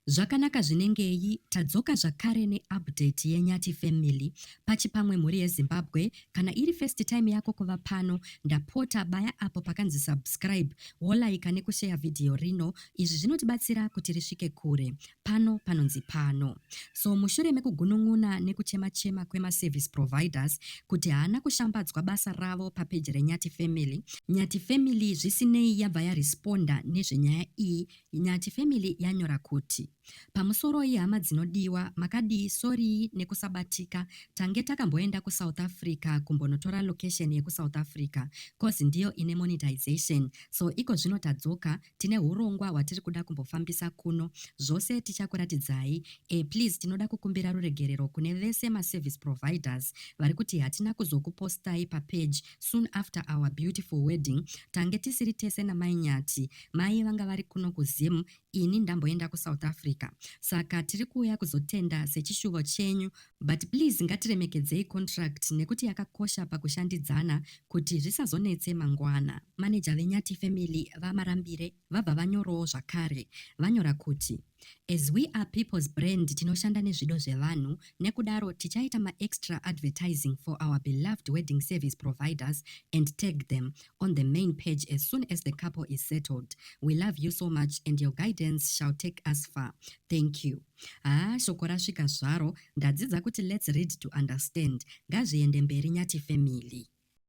Zvakanaka zvinengei tadzoka zvakare ne update ye Nyati family pachipamwe mhuri ye Zimbabwe kana iri first time yako kuva pano ndapota baya apo pakanzi subscribe wolaika nekusheya video rino izvi zvinotibatsira kuti risvike kure pano panonzi pano so mushure mekugunun'una nekuchema chema kwema service providers kuti haana kushambadzwa basa ravo papeji renyati family nyati family zvisinei yabva yaresponda nezvenyaya iyi Nyati family yanyora kuti. Pamusoroi hama dzinodiwa makadii sorii nekusabatika tange takamboenda kusouth Africa kumbonotora location yekusouth Africa coz ndiyo ine monetization so ikozvino tadzoka tine hurongwa hwatiri kuda kumbofambisa kuno zvose tichakuratidzai e please tinoda kukumbira ruregerero kune vese maservice providers vari kuti hatina kuzokupostai papage soon after our beautiful wedding tange tisiri tese namai nyati mai vanga vari kuno kuzim ini ndamboenda kusouth africa saka tiri kuuya kuzotenda sechishuvo chenyu but please ngatiremekedzei contract nekuti yakakosha pakushandidzana kuti zvisazonetse mangwana maneja venyati family vamarambire vabva vanyorowo zvakare vanyora kuti As we are people's brand tinoshanda nezvido zvevanhu nekudaro tichaita maextra advertising for our beloved wedding service providers and tag them on the main page as soon as the couple is settled. We love you so much and your guidance shall take us far. Thank you. Haa shoko rasvika zvaro ndadzidza kuti let's read to understand. Ngazviende mberi Nyati family.